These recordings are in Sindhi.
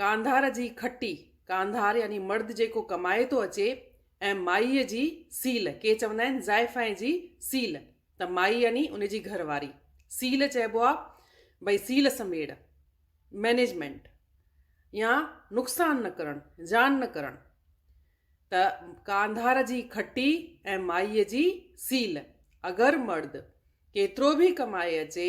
ڪانڌار جي کٽي، ڪانڌار يعني مرد جيڪو ڪمائي ٿو اچي ۽ مائيء جي سيل، ڪي چوندا آهن زائفائي جي سيل ته مائي يعني ان جي گهر واري، سيل چئبو آهي ڀئي سيل سميڙ، مئنيجمينٽ، يا نقصان نه ڪرڻ، زيان نه ڪرڻ ته ڪانڌار جي کٽي ۽ مائيء جي سيل، اگر مرد ڪيترو به ڪمائي اچي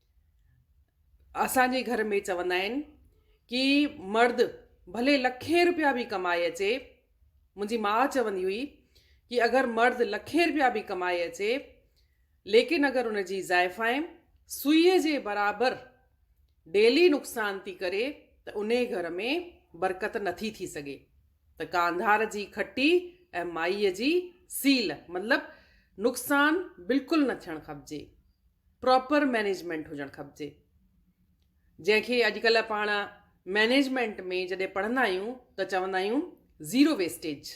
اسان جي گهر ۾ چوندا آهن ڪي مرد ڀلي لکين روپيا به ڪمائي اچي منهنجي ماء چوندي هئي ڪي اگر مرد لکين روپيا به ڪمائي اچي ليڪن اگر ان جي زائفائن سوئي جي برابر ڊيلي نقصان ٿي ڪري ته انهي گهر ۾ برڪت نٿي ٿي سگهي ته ڪانڌار جي کٽي ۽ مائيء جي سيل مطلب نقصان بلڪل نه ٿيڻ کپجي پراپر مينيجمينٽ هجڻ کپجي جنهن کي اڄڪلهه پاڻ مينيجمينٽ ۾ جڏهن پڙهندا آهيون ته چوندا آهيون زيرو ويسٽيج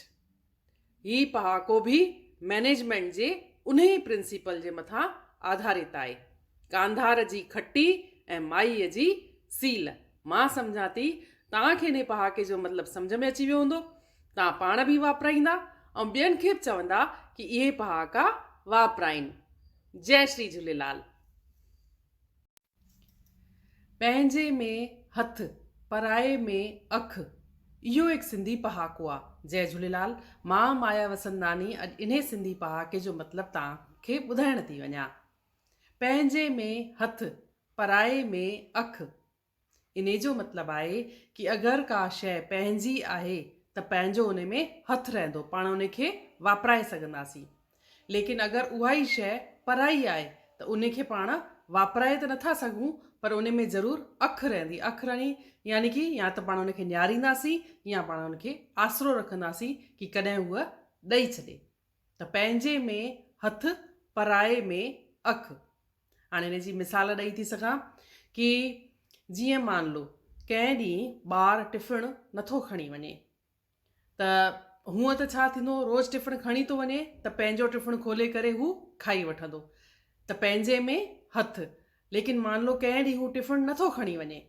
هي پهاڪو به مئنيجمينٽ جي انهي پرنسپل جي مٿان آڌارت آهي. ڪانڌار جي کٽي ۽ مائيء جي سيل. مان سمجهان ٿي توهان کي انهي پهاڪي جو مطلب سمجهه ۾ اچي ويو هوندو. توهان پاڻ به واپرائيندا ۽ ٻين کي به چوندا ڪي اهي پهاڪا واپرائين. جئي شري جهوليلال. پنهنجي ۾ هٿ پرائي ۾ اک اهو هڪ سنڌي پهاڪو آ. جئي جهوليلال مان مايا وسنداني اڄ انهي سنڌي پهاڪي جو مطلب توهان کي ٻڌائڻ ٿي وڃان پنهنجي ۾ هٿ پرائي ۾ اک انهي جو مطلب آهي ڪي اگر ڪا شئي پنهنجي آهي ته پنهنجو انهي ۾ هٿ رهندو پاڻ انهي کي واپرائي سگهنداسين ليڪن اگر اها ئي شيء پرائي آهي ته انهي کي پاڻ واپرائي ته نٿا سگهون پر انهي ۾ ضرور اک رهندي، اک رهڻي يعني ڪي يا ته پاڻ ان کي نهارينداسين يا پاڻ ان کي آسرو رکنداسين ڪي ڪڏهن هوء ڏئي ڇڏي. ته پنهنجي ۾ هٿ پرائي ۾ اک. هاڻي ان جي مثال ڏئي ٿي سگهان ڪي جيئن مان لو ڪنهن ڏينهن ٻار ٽفڻ نٿو کڻي وڃي. ته هونئن ته ڇا ٿيندو، روز ٽفڻ کڻي ٿو وڃي ته پنهنجو ٽفڻ کولي ڪري هو کائي وٺندو ته پنهنجي ۾ هٿ، ليڪن مان لو ڪنهن ڏينهن هو ٽفڻ نه ٿو کڻي وڃي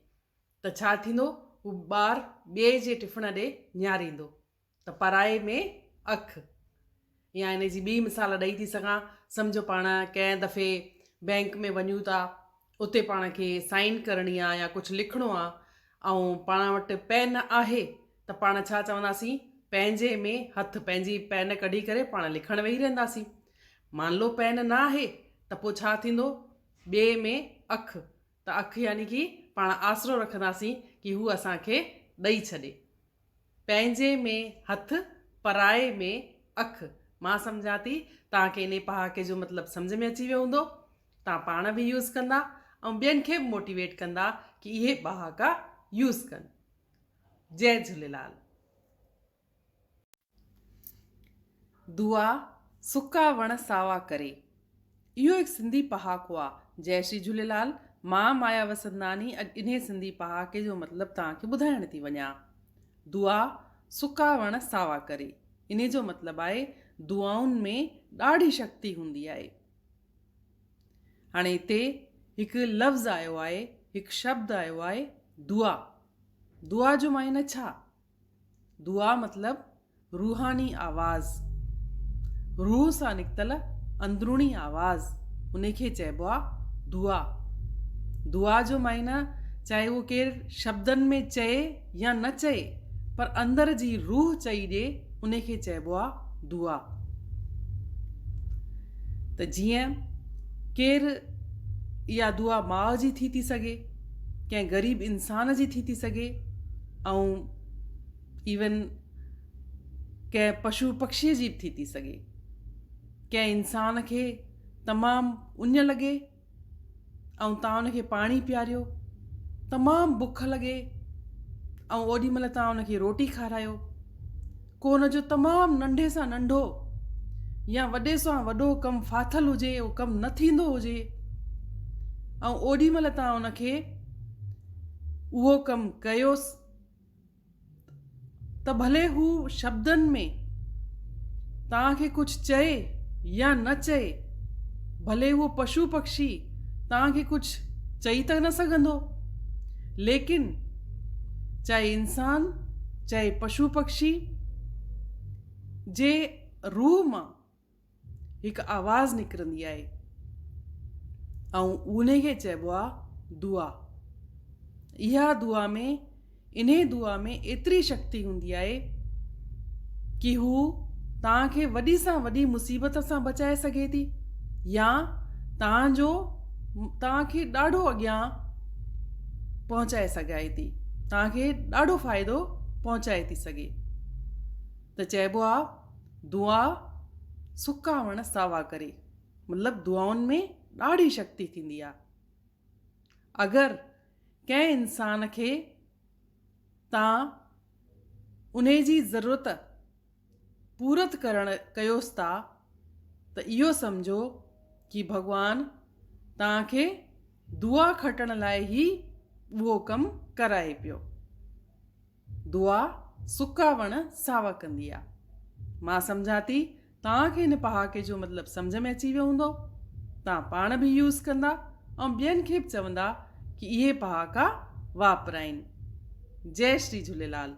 ته ڇا ٿيندو، هو ٻار ٻئي جي ٽفڻ ڏي نهاريندو ته پرائي ۾ اک. يا ان جي ٻي مثال ڏئي ٿي سگهان، سمجهو پاڻ ڪنهن دفعي بئنڪ ۾ وڃون ٿا، اتي پاڻ کي سائين ڪرڻي آ يا ڪجهه لکڻو آ ۽ پاڻ وٽ پين آهي ته پاڻ ڇا چونداسين پنهنجي ۾ هٿ پنهنجي پين ڪڍي ڪري پاڻ لکڻ ويهي رهنداسين. مانلو پين نه آهي ته پوء ڇا ٿيندو ٻئي ۾ اک ته اک يعني ڪي پاڻ آسرو رکنداسين ڪي هو اسان کي ڏئي ڇڏي. پنهنجي ۾ هٿ پرائي ۾ اک. مان سمجهان ٿي توهان کي انهي پهاڪي جو مطلب سمجهه ۾ اچي ويو هوندو. توهان پاڻ به يوز ڪندا ۽ ٻين کي به موٽيويٽ ڪندا ڪي اهي ٻهاڪا يوز ڪن. جئي جهوليلال. دعا، سڪا وڻ ساوا ڪري. اهو هڪ سنڌي پهاڪو آ. جئي شري جهوليلال، مان مايا وسنداني اڄ انهي سنڌي پهاڪي جو مطلب توهان کي ٻڌائڻ ٿي وڃان. دعا، سڪا وڻ ساوا ڪري. انهي جو مطلب آهي دعائن ۾ ڏاڍي شڪتي هوندي آهي. هاڻي هتي هڪ لفظ آيو آهي هڪ شبد آيو آهي دعا. دعا جو معنيٰ ڇا؟ دعا مطلب روحاني آواز، روح سان نڪتل اندروني آواز انهي کي چئبو آ دعا. دعا جو معنيٰ چاهي اهو ڪير شبدن ۾ چئي يا نه چئي پر اندر جي روح چئي ڏي انهي کي چئبو آ دعا. ته جيئن ڪير اها دعا ماء جي ٿي ٿي سگهي، ڪنهن غريب انسان جي ٿي ٿي سگهي، ۽ ايون ڪنهن پشو پکشيء جي به ٿي ٿي سگهي ڪنهن انسان کي تمام اڃ لڳي ۽ تان ان کي پاڻي پياريو تمام بک لڳي ۽ اوڏي مهل تان ان کي روٽي کارايو ڪو ان جو تمام ننڍي سان ننڍو يا وڏي سان وڏو ڪم ڦاٿل هجي اهو ڪم نه ٿيندو هجي ۽ اوڏي مهل تان ان کي اهو ڪم ڪيوس ته ڀلي هو شبدن ۾ تان کي ڪجهه چئي يا نه چئي ڀلي اهو پشو پکشي تان کي ڪجهه چئي ته نه سگهندو ليڪن چاهي انسان چاهي پشو پکشي جي روح مان هڪ آواز نڪرندي آهي ۽ انهي کي چئبو آهي دعا اها دعا ۾ انهي دعا ۾ ايتري شڪتي هوندي آهي ڪي هو توهان کي وڏي سان وڏي مصيبت سان بچائي سگهي ٿي يا توهان جو توهان کي ڏاڍو اڳيان پهچائي سگهائي ٿي توهان کي ڏاڍو فائدو پهچائي ٿي سگهي ته چئبو آ دعا سڪا وڻ ساوا ڪري مطلب دعائن ۾ ڏاڍي شڪتي ٿيندي آ اگر ڪنهن انسان کي تان ان جي ضرورت پورت ڪرڻ ڪيوس ٿا ته اهو سمجهو ڪي ڀڳوان توهان کي دعا کٽڻ لاء هي ٻوهو ڪم ڪرائي پيو. دعا سڪا وڻ ساوا ڪندي آ. مان سمجهان ٿي توهان کي هن پهاڪي جو مطلب سمجهه ۾ اچي ويو هوندو. توهان پاڻ به يوز ڪندا ۽ ٻين کي به چوندا ڪي اهي پهاڪا واپرائين. جئي شري جهوليلال.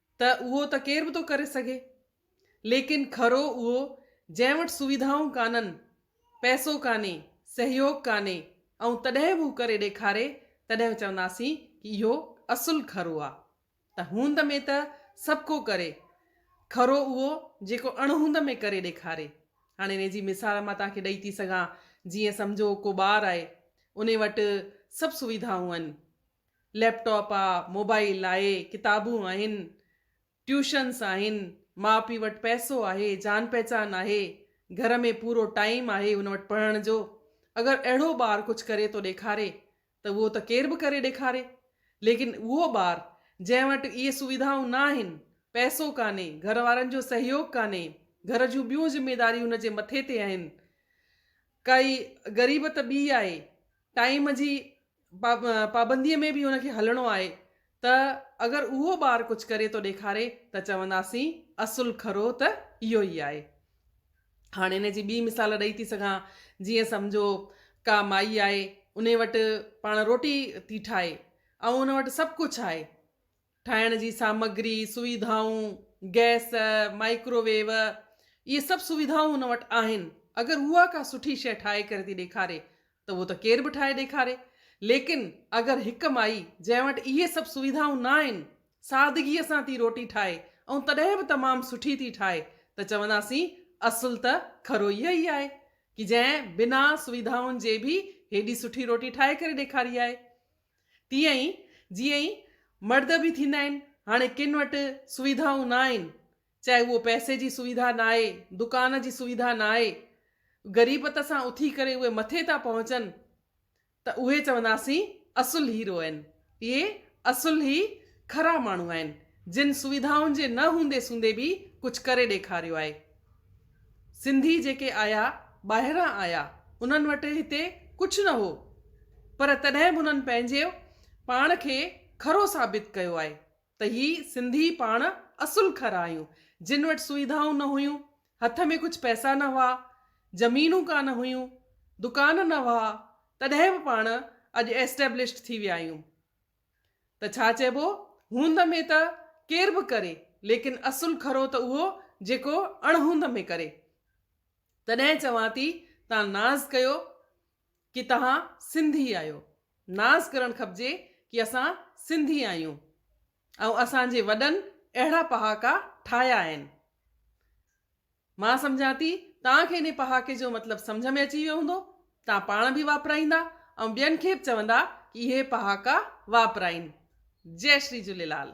ته اهو ته ڪير به ٿو ڪري سگهي ليڪن کرو اهو جنهن وٽ سويڌائون ڪانهن، پئسو ڪانهي، سهيوگ ڪانهي ۽ تڏهن به هو ڪري ڏيکاري تڏهن چونداسين ڪي اهو اصل کرو آ ته هوند ۾ ته سڀ ڪو ڪري کرو اهو جيڪو اڻ هوند ۾ ڪري ڏيکاري هاڻي انهي جي مثال مان توهان کي ڏئي ٿي سگهان جيئن سمجهو ڪو ٻار آهي انهي وٽ سڀ سويڌائون آهن ليپ ٽاپ آ، موبائيل آهي، ڪتابون آهن، ٽيوشنس آهن، ماء پيء وٽ پئسو آهي، جان پهچان آهي، گهر ۾ پورو ٽائيم آهي هن وٽ پڙهڻ جو، اگر اهڙو ٻار ڪجهه ڪري ٿو ڏيکاري ته اهو ته ڪير به ڪري ڏيکاري ليڪن اهو ٻار جنهن وٽ اهي سويڌائون نه آهن، پئسو ڪانهي، گهر وارن جو سهيوگ ڪانهي، گهر جون ٻيون ذميداريون هن جي مٿي تي آهن، ڪائي غريبت ٻي آهي، ٽائيم جي پابنديء ۾ به ان کي هلڻو آهي ته اگر اهو ٻار ڪجهه ڪري ٿو ڏيکاري ته چونداسين اصل کرو ته اهو ئي آهي. هاڻ ان جي ٻي مثال ڏئي ٿي سگهان. جيئن سمجهو ڪا مائي آهي، انهي وٽ پاڻ روٽي ٿي ٺاهي ۽ ان وٽ سڀ ڪجهه آهي، ٺاهڻ جي سامگري، سويڌائون، گئس، مائڪرو ويو، اهي سڀ سويڌائون هن وٽ آهن. اگر اها ڪا سٺي شيء ٺاهي ڪري ٿي ڏيکاري ته اهو ته ڪير به ٺاهي ڏيکاري. ليڪن اگر هڪ مائي جنهن وٽ اهي سڀ سويڌائون نه آهن، سادگيء سان ٿي روٽي ٺاهي ۽ تڏهن به تمام سٺي ٿي ٺاهي ته چونداسين اصل ته کرو اها ئي آهي ڪي جنهن بنا سويڌائن جي به هيڏي سٺي روٽي ٺاهي ڪري ڏيکاري آهي. تيئن ئي جيئن ئي مرد به ٿيندا آهن، هاڻي ڪن وٽ سويڌائون نه آهن، چاهي اهو پئسي جي سويڌا نه آهي، دڪان جي سويڌا نه آهي، غريبت سان اٿي ڪري اهي مٿي ٿا پهچن ته اهي چونداسين اصل هيرو آهن، اهي اصل هي کرا ماڻهو آهن، جن سويڌائن جي نه هوندي سوندي به ڪجهه ڪري ڏيکاريو آهي. سنڌي جيڪي آيا، ٻاهران آيا، انهن وٽ هتي ڪجهه نه هو، پر تڏهن به انهن پنهنجي پاڻ کي کرو ثابت ڪيو آهي ته هي سنڌي پاڻ اصل کر آهيون، جن وٽ سوئيڌائون نه هيون، هٿ ۾ ڪجهه پئسا نه هئا، زمينون ڪانه هيون، دڪان نه هئا، تڏهن به پاڻ اڄ ايسٽيبلشڊ ٿي ويا آهيون. ته ڇا چئبو، هوند ۾ ته ڪير به ڪري، ليڪن اصل کرو ته اهو جيڪو اڻهوند ۾ ڪري. تڏهن چوان ٿي تان ناز ڪيو ڪي تهان سنڌي آهيو. ناز ڪرڻ کپجي ڪي اسان سنڌي آهيون ۽ اسان جي وڏن اهڙا پهاڪا ٺاهيا آهن. مان سمجهان ٿي توهان کي انهي پهاڪي جو مطلب سمجهه ۾ اچي ويو هوندو. توهان پاڻ به واپرائيندا ۽ ٻين کي به چوندا ڪي اهي پهاڪا واپرائين. جئي شري جهوليلال.